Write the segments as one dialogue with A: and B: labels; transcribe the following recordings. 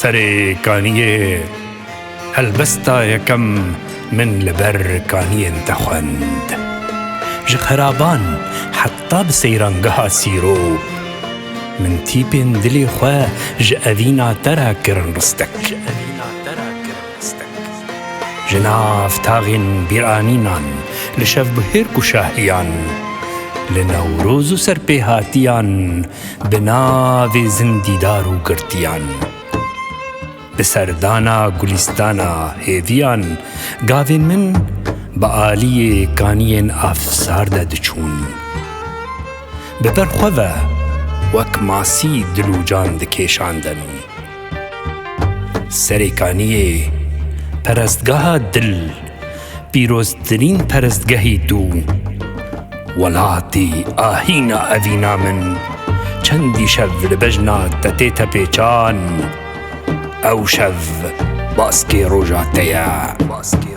A: Serê kaniyê helbesta yekem min li ber kaniyên te xwend. Ji xeraban heta bi seyrangeha sîro min tîpên dilê xwe ji evîna te re kirin ristek. Ji nav taxên bîranînan li şevbihêr ku şahiyan li Newroz û serpêhatiyan Bi navê zindîdar û girtiyan. Di serdana gulîstana hêviyan gavên min bi aliyê kaniyên afsar de diçûn. Bi ber xwe ve wek masî dilûcan dikêşandin. Serê Kaniyê, perestgeha dil, pîroztirîn perestgehê dû welatî a hîna evîna min çendî şev li bejna te tê tepêçan, ew şev baskê roja te ye.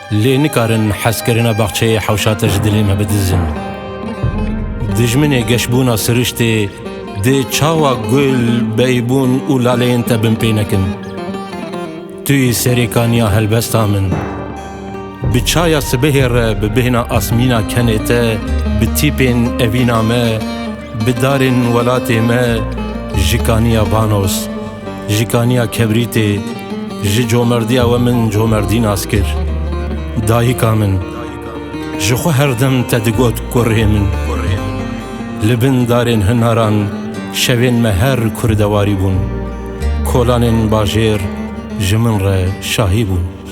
A: Lê nikarin hezkirina baxçeyê hewşa te ji dilê me bidizin. Dijminê geşbûna siriştê dê çawa gul, beybûn û laleyên te bin pê nekin. Tu yî serêkaniya helbesta min. Bi çaya sibehê re bi bêhna asmîna kenê te bi tîpên evîna me, Bi darên welatê me jikaniya banos, jikaniya kebrîtê, ji comerdiya we min comerdî nas kir. Dayika min ji xwe her dem te digot kurê min. Li bin darên hinaran şevên me her kurdewarî bûn. Kolanên bajêr ji min re şahî bûn.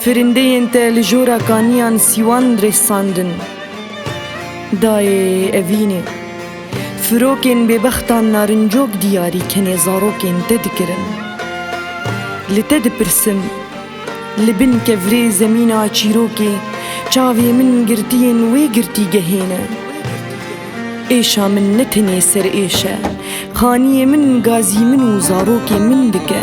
A: Firindeyên te li jora kaniyan sîwan rêsandin. Dayê evînê, firokên bêbextan narincok diyarî kenê zarokên te dikirin. Li te dipirsim, li bin kevrê zemîna çîrokê çavê min girtiyên wê girtîgehê ne. Êşa min ne tenê serêş e, xaniyê min gazî min û zarokê min dike.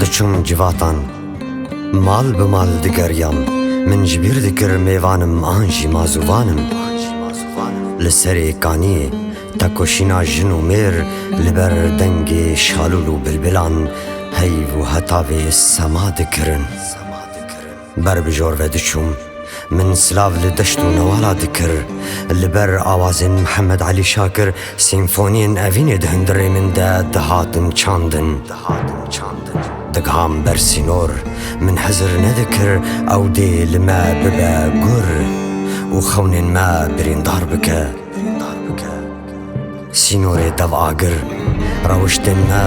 A: Diçûm civatan mal bi mal digeriyam Min ji bîr dikir mêvanim an jî ma zûvanim Li serê kaniyê tekoşîna jin û mêr Li ber dengê şalûl û bilbilan heyv û hetavê sema dikirin. Ber bi jor ve diçûm. Min silav li deşt û newala dikir. Li ber awazên Mihemed Elî Şakir senfoniyên evînê di hundirê min de dihatin çandin. Digihan ber sînor. Min hezir nedikir ew dê li me bibe gur û xewnên me birîndar bike. Sînorê dev agir, rewiştên me,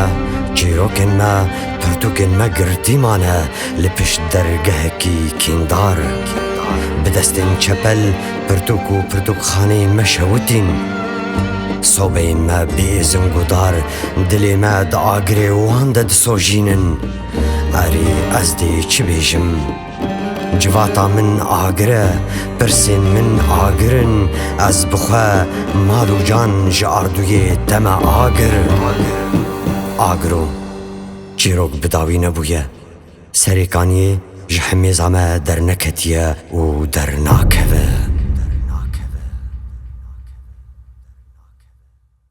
A: çîrokên me, pirtûkên me girtî mane li pişt dergehekî kîndar. Bi destên çepel pirtûk û pirtûkxaneyên me şewitîn. Sobeyên me bê êzing û dar dilê me di agirê wan de disojînin. Erê ez dê çi bêjim? Civata min agir e, pirsên min agir in, ez bi xwe mal û can ji ardûyê te me agir. Agiro çîrok bi dawî nebûye. Serêkaniyê ji himêza me derneketiye û dernakeve.